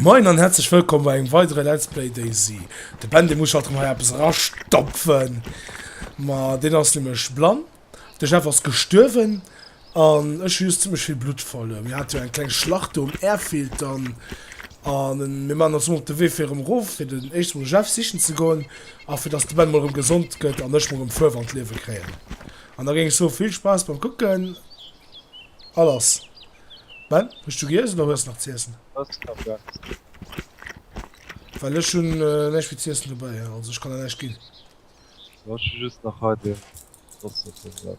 Moin an herzlech wëllkomm bei engem weidere Let's Play DayZ. De Ben dee muss halt erëm hei eppes erastopfen. Ma deen ass nämlech blann, de Jeff ass gestuerwen, An ech hu just zimlech vill Blutt verluer. Mir hate jo eng kleng Schlacht do um Airfield dann. A mir maachen ons emol op de Wee fir erëm erof, fir den éischte mol de Jeff sichen ze goen a fir dass de Ben mol erëm gesond gëtt an ech mol erëm Fuerw an d'Liewe kréien. An da géing ech soen, vill Spaass beim kucken a lass. Ben, hues du giess oder hues nach z'iessen? Hues nach näischt? Well ech hunn näischt fir z'iessen dobäi hei, also ech kann der näischt ginn. Jo, ech hu just nach hei dee Ross op dem Sättel.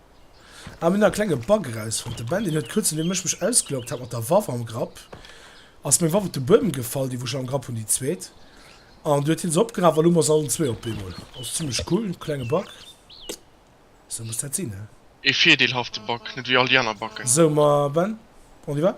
Ah mir hunn nach e klenge Bug erausfonnt. De Ben deen huet kuerz nodeem ech mech ausgeloggt hat mat der Waff am Grapp, ass meng Waff op de Buedem gefall, déi wou ech am Grapp hunn, déi zweet, an du huet hie se opgeraf a lo hu mer se allen zwee op eemol. Ass zimlech cool, klenge Bug. Sou muss dat sinn, he? Ee virdeelhafte Bug, net wéi all déi aner Buggen. Sou, ma Ben, on y va?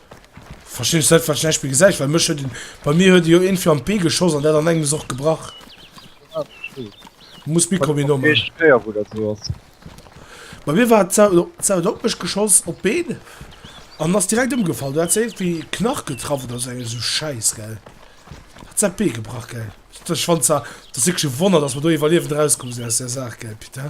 Verstinn ech net wat Beispill gesäit, well mech huet en bei mir huet e jo een fir am Pee geschoss an dat an engem ass och gebrach. Muss Mikro méi no maachen. Schwéier wou dat sou ass. Bei mir war d'Sau do, d'Sau huet op mech geschoss op d'Been an ass direkt ëmgefall. Du hat se iergendwéi Knach getraff oder esou enger sou Schäiss gell. Hat se dat Bee gebrach gell. Ech fand zwar, et ass wierklech e Wonner, datt mer do iwwerliewend erauskomm sinn aus där Saach gell Pit, he?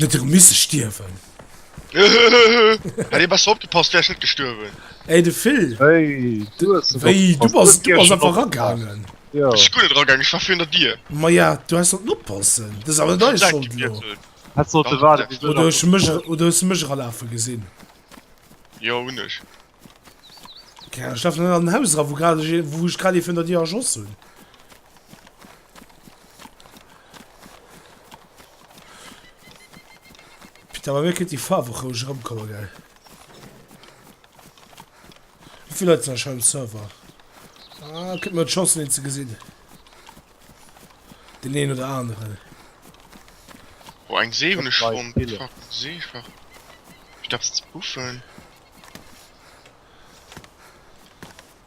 Net erëm misse stierwen. Hei bass opgepasst wärs net gestuerwen. Ey de Phil wéi du bass du bass einfach ragaangen. Ech guer net ragaangen ech war virun dir. Maja du häss sollten oppassen dës awer net dei Schold lo. Häss sollte waarden bis oder hues mech oder hues de mech eralafe gesinn? Jo hunn ech. Ech laf net an den Haus eran wou grad ech wou ech grad ee virun der dir erschoss hunn. Putain, bei mir kënnt déi Faarf och roueg erëmkommen, gell? Wéi vill Leit sinn scho um Server? Ah, kënnt mir d'Chancen, een ze gesinn. Den een oder aneren. Oh, eng See hunn ech fonnt. Fuck, Seefach. Ech dacks ze puffen.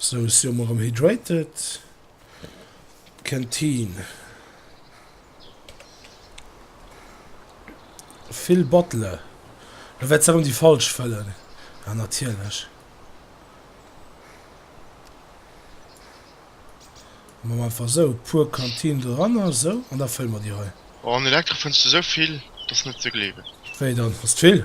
Sou sio mer rem hydrated. Ken teen. Fill Bottle. Lo wärt se rem déi falsch fëllen. Ah natierlech. Maan mer einfach sou puer Kanteen doranner sou an da fëllen mer déi hei. Oh an Elektro fënns du sou vill, dass net ze gleewen. Wéi dann, ass t'vill?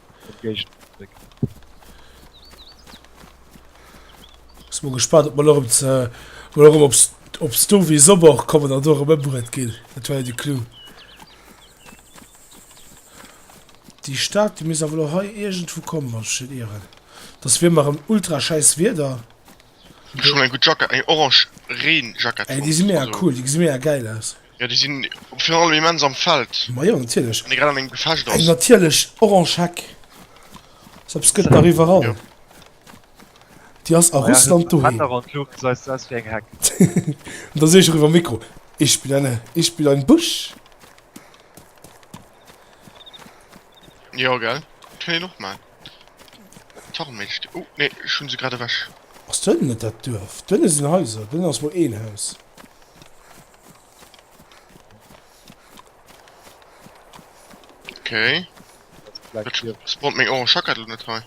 Muss mer gespannt ob mer nach op ze oder erëm op op Sto wéi Sommer kommen an do erëm ëmbruet ginn. Dat war jo de Clou. Déi Stad déi misst awer lo hei iergendwou kommen wann ech net ieren. Et ass wéi ëmmer erëm ultra schäiss Wieder. Ech hunn eng gutt Jackett, eng orange Reenjackett Ey déi si mega cool, déi gesi mega gäil aus. Ja déi sinn virun allem immens am Feld. Ma jo natierlech. Wann ee grad an engem Gefecht Eng ass. natierlech orange Heck. Sou eppes gëtt nach iwwerall. Jo. Déi ass a Russland doheem. Wetter an d'Luucht seis se aus wéi eng Heck. An da seet ech eriwwer Mikro, Ich bin eine, ich bin ein Busch. Jo gell, dat hunn een och mal. Tarnméiglechkeet. Oh nee, ech hunn se grad ewech. Ass do hënnen net dat Duerf? Do hënne sinn Haiser, do hënne ass mol een Haus. Okay. Spot meng Ohren schackert net hei.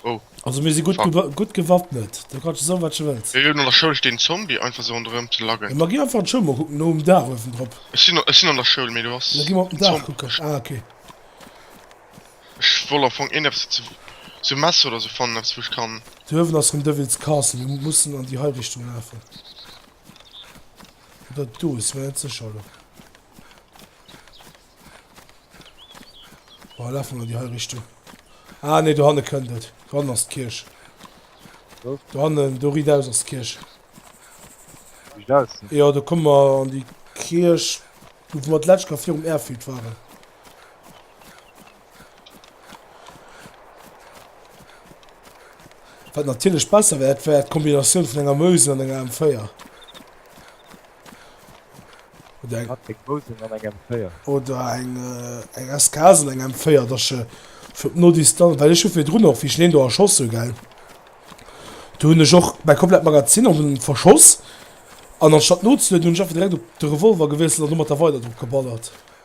Oh. Also mir si gut, gewa gut gewappnet. Da kannst du so wat du willst. Ech der Schoul den Zombie einfach so rondrem ze laggen. Ja, ma gi einfach an d'Schoul mal gucken, no um Dach oewen drop. Ech sinn an der Schoul, mee du hast... Ja, gi mal op den Dach kucken. Ah, okay. Ech wollt am fong eeneps ze sou messe oder sou fannen eppes wou ech kann. Dei Uewen ass vum Devil's Castle, mir mussen an déi hei Richtung lafen. Oder et do, si mer net secher elo. Bon laf mol an déi hei Richtung. Ah nee do hanne kënnt et. Do hannen ass d'Kierch. Wou? Do hannen, do riit aus ass d'Kierch. Riit aus? Jo do komme mer an déi Kierch do wou mer d'letzt Kéier virum Airfield waren. Wat natierlech besser wär, wär d'Kombinatioun vun enger Mousel an enger M4. Oder eng. Eng Mousel an eng M4. Oder eng, eng SKS an eng M4, dass je fir op no Distanz, well ech hu virdrun och, wéi ech deen do erschoss hu, gell, do hunn ech och mäi komplett Magazin an hunn verschoss an anstatt nozelueden, hunn ech einfach direkt op de Revolver gewiesselt an domat da weider drop geballert.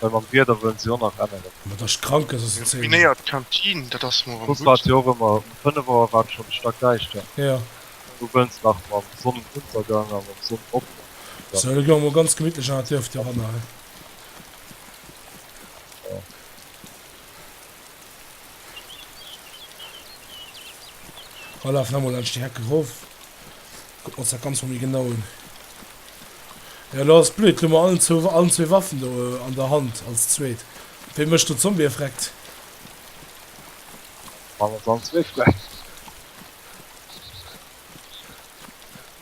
Well mam Wieder wëllen se jo nach änneren. Ma dass krank ass ass en Zeen. Minéiert Kantin, dat ass mol erem gutt. Jo rëmmer um 5 Auer war et schon stack däischter. Jo. Du wëlls nach mam Sonnenuntergang a mam Sonnenopgang dann. Sou et goung mol ganz gemittlech an dat Duerf doranner hei. Jo. Komm laf nach mol laanscht déi Heck erof. Kucken ons dat ganz mol méi genau un. Jo dat ass blöd, elo hu mer allen zwee Waffen do an der Hand als zweet. Wee mecht do Zombie erfreckt? Maan ons all zwee freckt.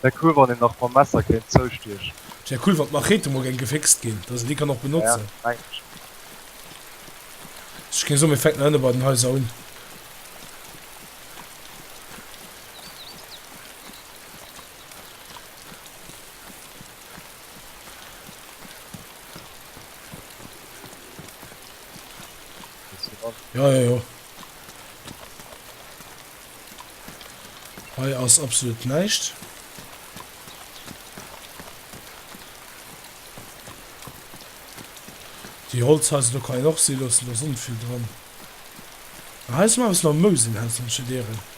Wär cool wann een nach mam Messer kéint zoustiechen. Et wär cool wann d'Machete mol geng gefixt ginn, dass een déi kann och benotzen. Ja mengen ech och. Ech géing soen mir fänken hënne bei den Haiser un. Ja, ja, ja. Hei ass absolut näischt. Die Holzhäuser, da kann ich noch sehen lassen, da sind viel dran. Heißt mal, was noch Mösen heißt, dann schon deren.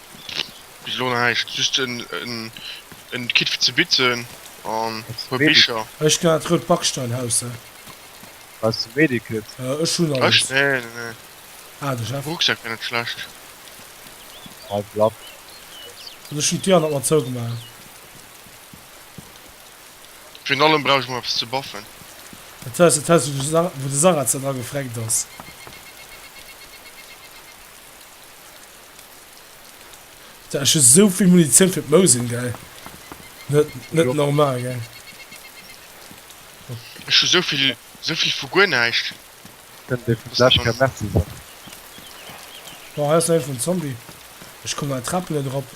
Bis elo näischt, just en Kit fir ze bitzen an e puer Bicher. Ech gin an dat rout Backsteinhaus, hä? Brauchs de Medikit? Ech hun alles. Ech? Nee, nee, nee. Ah, de Jeff. Rucksack wär net schlecht. Hei bleibt alles. Also ech hun d'Dir an der Matt zougemaach. Virun allem brauch ech mol eppes ze baffen. Dat war dat Haus, wou de Sarrazin dra gefreckt ass. Dat ass just esou vill Munitioun fir d'Mosin, gell? Net, net normal, gell? Ech hu sou vill, sou vill vu guer näischt. Kënnt ee vum Lech keng Merci soen? Boah, hei ass nach ee vum Zombie. Ech komm an d'Trap net erop.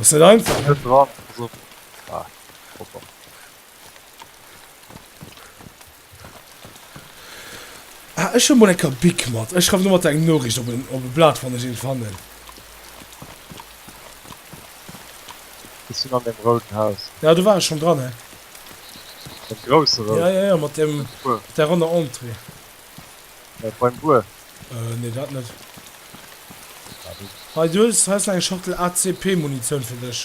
Ass net einfach, ne? Ah, ech hun mol eng Kabik mat. Ech schreiwen domatter eng Noriicht op en op e Blat wann ech een fannen. Ech sin an dem rouden Haus. Ja, do war ech schon dran, hei. Dem groussen rouden? Ja, ja, ja, mat dem, mat der ronner Entrée. Beim Buer? Äh, nee, dat net. Hei, du hues hei eng Schachtel ACP-Munitioun fir dech.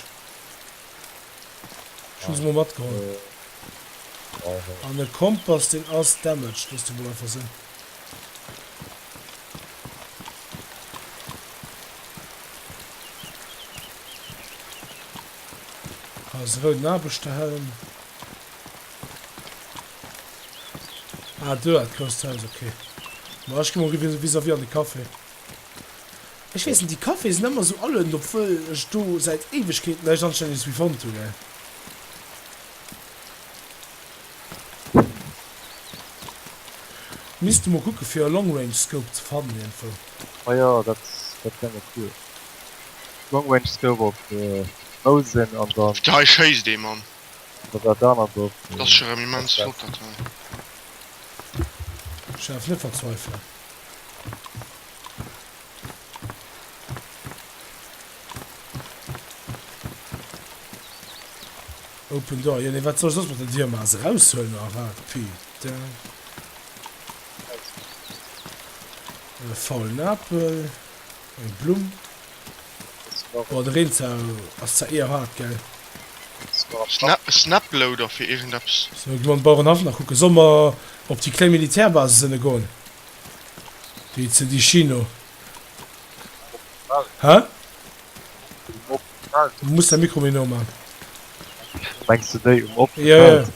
Ech hu se mol matgeholl. An e Kompass, deen ass damaged, dëst erëm einfach sinn. Ass e rouden Aarbechterhelm. Ah, do dat grousst Haus, ok. Ma ech gi mol gewisen, vis-à-vis an de Café. Ech weess net, déi Caféë sinn ëmmer sou alen, obwuel ech do säit Éiwegkeeten näischt Anstänndeges méi fonnt hunn, ey. Misste mol kucke fir e Long-Range-Scope ze fannen iergendwou. Ah jo, dat dat wär mol cool. Long-Range-Scope op Mousen an dann. Hei schéisst ee, Mann. Oder dat anert Dorf do. Ass erem immens flott dat hei. Ech däerf net verzweifelen. Open door, jo nee wat soll ech soss mat der Dier maan, se raus huelen oder wat? Putain. Faulen Apel. Eng Blumm. Boah de Reenzau ass zwar eher hard gell. Snaploader fir irgendeps. So ech gi mam Bauerenhaff nach kucken. Soll mer op déi kléng Militärbasis ënne goen? Déi ze Dicino? Hä? Du muss däi Mikro méi no man. Mengs de déi um opene Feld?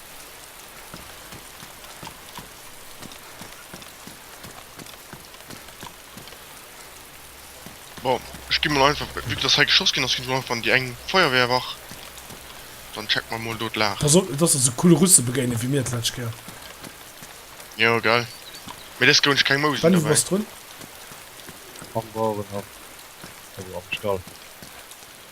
Bon, ich gehe mal einfach, wie das halt geschossen gehen, das geht einfach an die eng Feuerwehrwach. Dann checken wir mal dort lachen. Also, das ist so coole Russen begegnen, wie mir das letzte Jahr. Ja, geil. Mir das gewünscht kein Maus. Wann du was drin? Am Bauernhof. Also am Stall.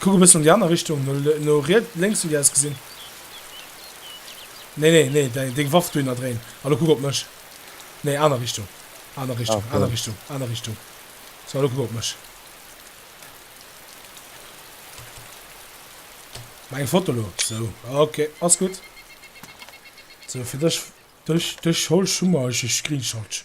Kuck e bëssen an déi aner Richtung, no riets, lénks wéi aus gesinn. Nee, nee, nee, däi, deng Waff do hinner dréin a lo kuck op mech. Nee, aner Richtung, aner Richtung, aner Richtung, aner Richtung. So, lo kuck op mech. Ma eng Foto lo. So, okay, ass gutt. So, fir dech, dech, dech holch, hu mer, ech, ech screenshotch.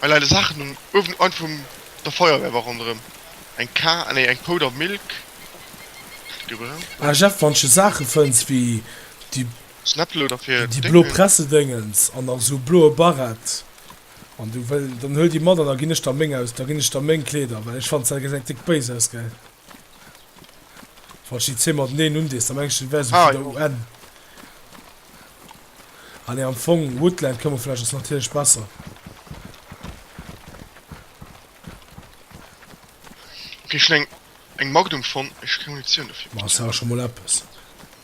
Hei leide Saachen um Uewen an vum der Feuerwehr war ronderem eng Ka nee eng Pou der Milk gebrant. Ah Jeff, wann ech sou Saache fënns wéi déi déi blo Pressedéngens an nach sou bloe Barett an du well dann huel déi mat an da ginn ech der meng aus da ginn ech der meng Kleeder well ech fanns dat gess eng Tick béis aus gell. Wann ech déi zwee mateneen undees, da mengen ech, dat wär esou vun der UN. Ah nee, am Fong, Woodland Camouflage ass natierlech besser. Ech hunn eng Magnum fonnt, mee ech hu keng Munitioun dofir. Ma ass jo awer scho mol eppes.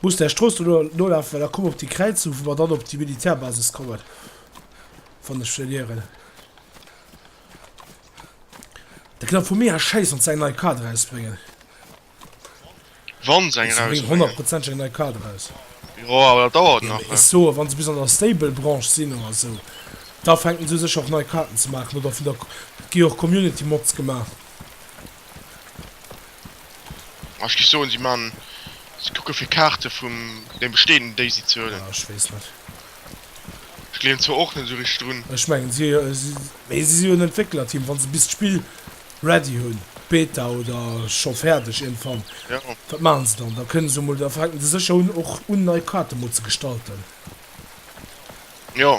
Muss där Strooss do nolafen, well da komme mer op déi Kräizung, wou mer dann op déi Militärbasis kommen, wann ech net ieren. Da kënnt der vu mir aus schéissen, wann se eng nei Kaart erausbréngen. Wann se eng erausbréngen. Se bréngen honnertprozenteg eng nei Kaart eraus. Jo, awer dat dauert nach. Ech soen, wann se bis an der Stable Branche sinn oder esou, da fänken se u sech och nei Kaarten ze maachen oder vun der, et gi jo och Community Mods gemaach. Ech géif soen si man si kucke fir Kaarte vum dem bestehenden déi si ze huelen. Ah ech weess net. Ech gleewen zwar och net esou richteg drun. Ech mengen si mee si si hunn Entwécklerteam wann se bis d'Spill ready hunn, d'Beta oder scho fäerdeg iergendwann. Jo. Wat maachen se dann? Da kënne se mol da fänken se sécher un och un nei Kaarte mol ze gestalten. Jo.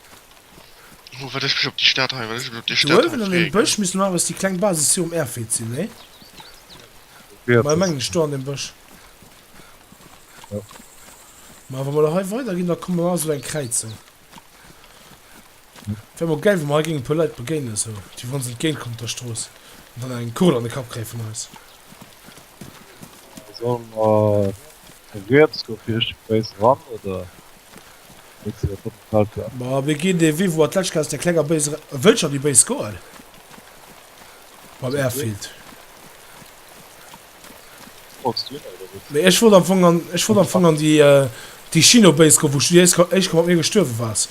Wo wat ech mech op déi Stad hei, wat ech mech op déi Stad hei Uewen an deem Bësch misst no awer déi kleng Basis jo um Airfield sinn, nee? Ma ech mengen ech do an deem Bësch. Jo. Ma wa mer da hei weider ginn, da komme mer an esou eng Kräizung. Wär mol gäil, wa mer hei géingen e puer Leit begéinen, esou déi wou ons entgéint kommen op der Strooss an dann eng Kugel an de Kapp kréie vun eis. Solle mer riets do vircht d'Base ran, oder? Ma wéi ginn dee Vivo Atlechka aus der klenger béis era e wëll schonn déi béis goen beim Airfield. Mee ech wollt am Fong an ech wollt am Fong an déi déi Chino Base goen, wou s du déi éischt éischte Kéier mat mir gestuerwe waars.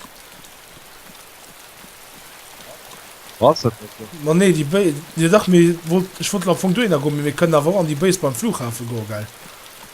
Was dat net do? Ma nee, déi Béis, jo dach, mee wollt ech wollt am Fong dohinner goen, mee mir kënnen awer och an déi Béis beim Flughafen goen, gell?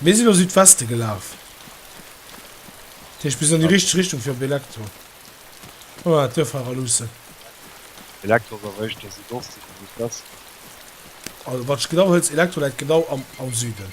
Mir sinn a Südweste gelaf. Tech bis an déi richteg Richtung fir op Elektro. Komm mer dat duerf hei raluussen. Elektro ass awer éischter Südoste wéi Südweste. Also wat ech genau hëlls, Elektro läit genau am Süden.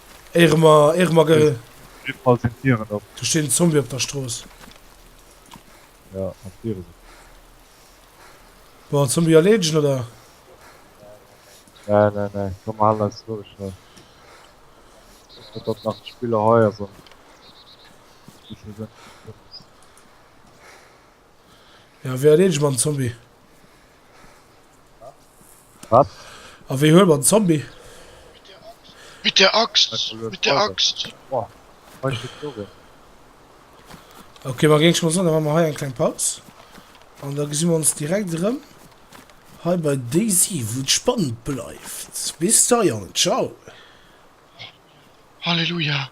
Ehrenmagel. Do steet en Zombie op der Strooss. Wollen den Zombie erleedegen oder? Ja wéi erleedege mer den Zombie? Wat? A wéi huele mer den Zombie? Mit der Axt! Mit der Axt! Ok, ma géing ech mol soen, da maache mer hei eng kleng Paus. An da gesi mer ons direkt erëm hei bei DayZ, wou et spannend bleift. Bis da, Jongen. Ciao! Halleluja!